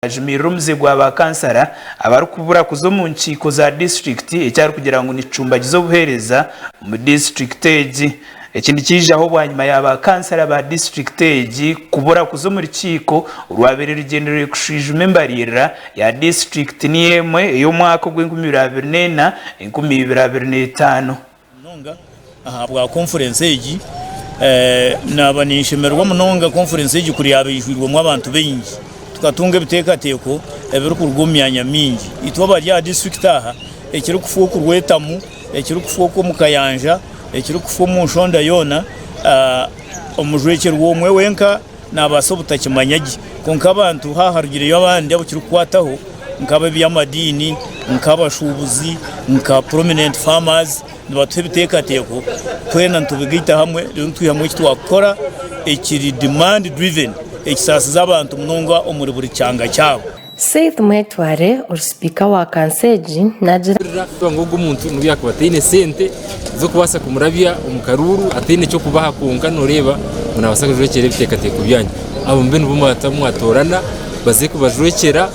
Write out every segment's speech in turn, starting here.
Ajumirire omuze gwa ba kansara abarikubura kuza omu nkiiko za disiturikiti eki arikugira ngu nikicumbagiza obuheereza omu disiturikiti egi. Eki nikyijaho bwanyima ya ba kansara ba disiturikiti egi kubura kuza omuri kiiko orwabaire rugyendereire kushwijuma embariirira ya disiturikiti niyo emwe ey'omwaka ogw'enkumi ibiri abiri neina, enkumi ibiri abiri n'etaano. Munonga ahabwa konfurensi egi. Naaba ninshemererwa munonga konfurensi egi kuri yaaba eijwirwemu abantu baingi. Tukatunga ebiteekateeko ebirikuruga omu myanya mingi. Itwe abari aha disiturikiti aha, ekirikufa okurwetamu, ekirikufa okw'omu kayanja, ekirikufa omu nshonda yoona, omujwekyerwa omwe wenka, Naabaasa obutakimanya gye, kwonka abantu haaharugireyo abandi abu kirikukwataho nk'ab'eby'amadiini, nk'abashuubuzi, nka prominent farmers nibatuha ebiteekateeko twena nitubigaita hamwe reero nitwihamu eki twakukora ekiri demand driven ekisaasize abantu munonga omuri buri kyanga kyabo. Seth Mwetware ori sipiika wa kanso egi nagira. Kuhurira ngu ogu omuntu nobu yaakuba ataine sente z'okubaasa kumurabya omu karuuru, ataine ky'okubaha kwonka nooreeba ngu naabaasa kujwekyera ebiteekateeko byanyu. Abo mube nibo mwata mwatoorana baze kubajwekyera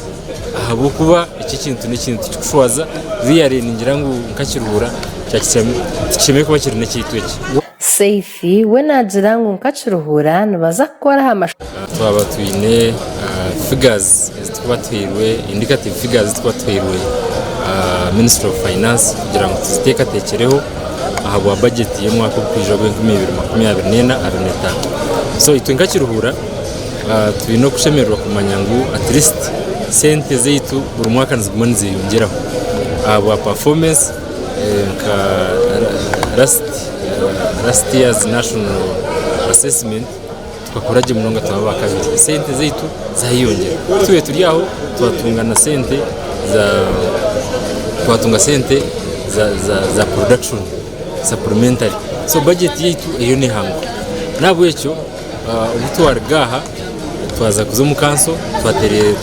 ahabw'okuba eki ekintu n'ekintu kirikushwaza. Reely ningira ngu nka Kiruhura tikishemereire kuba kiri n'ekyaitu eki. Seth. We naagira ngu nka Kiruhura nibaza kukora aha mashomero. Twaba twine figures ezitukuba tuhairwe, indicative figures ezitukuba tuhairwe ministry of finance kugira ngu tuziteekateekyereho ahabwa budget y'omwaka ogukwija ogw'enkumi ibiri makumi abiri n'ena abiri n'etaano. So itwe nka Kiruhura twine okushemererwa kumanya ngu at least sente zaitu buri mwaka niziguma nizeyongyeraho ahabwa performance nka last. Last year's national assessment tukakora gye munonga tuba aba kabiri. Sente zaitu zayeyongyera. Tube turi aho twatunga na sente za twatunga sente za za za production supplementary. So budget yaitu eriyo nehanguka. Nahabwekyo Obu twaruga aha twaza kuza omu kanso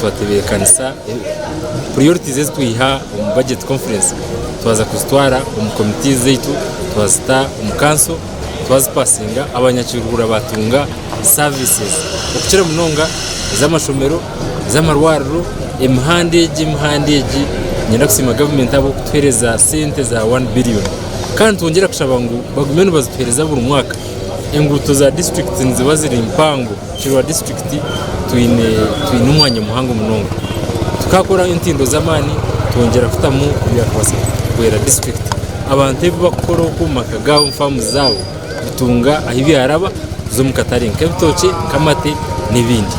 twatebeekanisa puriyorities ezi twiha omu bajeti konfurensi twaza kuzitwara omu komiti zaitu twazita omu kanso twazipasinga abanyakiruhura baatunga saavisi okukira munonga ez'amashomero ez'amarwariro emihanda egi emihanda egi niinyenda kusiima gavumenti ahabw'okutuheereza sente za wani biriyoni kandi nitwongyera kushaba ngu bagume nibazituheereza buri mwaka Enguuto za disiturikiti niziba ziri mpango kukira disiturikiti twine twine omwanya muhango munonga tukakora entindo z'amaani twongyera kutamu ebyakubaasa kuhwera disiturikiti abantu ebi bakukora oku omu maka gaabo omu faamu zaabo kutunga ahu byaraba kuza omu katare nk'ebitookye nk'amate n'ebindi.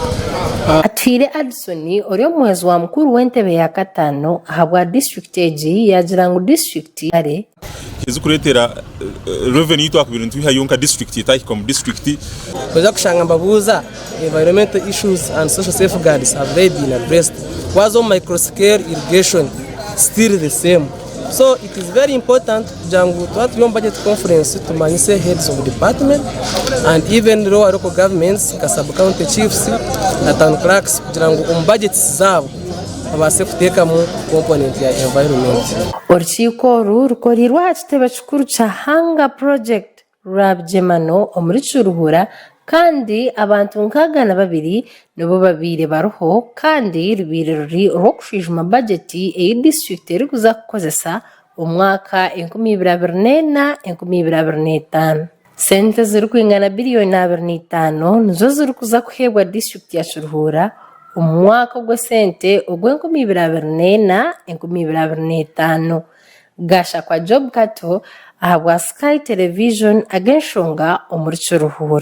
Atuhaire Addison ori omuhwezi wa mukuru w'entebe ya kataano ahabwa disiturikiti egi yaagira ngu disiturikiti ezikureetera revenue yitwakubire nitwihayo nka district etahika omu district. Noija kushanga mbabuuza environmental issues and social safeguards have they been addressed? Waaza omu micro scale irrigation still the same. So it is very important kugira ngu twaba turi omu budget conference tumanyise heads of department and even local governments nka sub county chiefs na town clerks kugira ngu omu budgets zaabo babaase kuteekamu komponenti ya environment. Orukiiko oru rukoreirwe aha kitebe kikuru kya Hanga Project Rwabigyemano omuri Kiruhura kandi abantu nkaaga na babiri nibo babaire bariho kandi rubaire ruri orw'okushwijuma bagyeti ei disiturikiti erikuza kukozesa omwaka enkumi ibiri abiri neena, enkumi ibiri abiri n'etaano. Sente zirikwingana biliyoni abiri na itaano nizo zirikuza kuheebwa disiturikiti ya Kiruhura omu mwaka ogw'esente ogw'enkumi ibiri abiri na ena, enkumi ibiri abiri na etaano. Gashakwa Job Kato ahabwa Sky Television ag'enshonga omuri Kiruhura.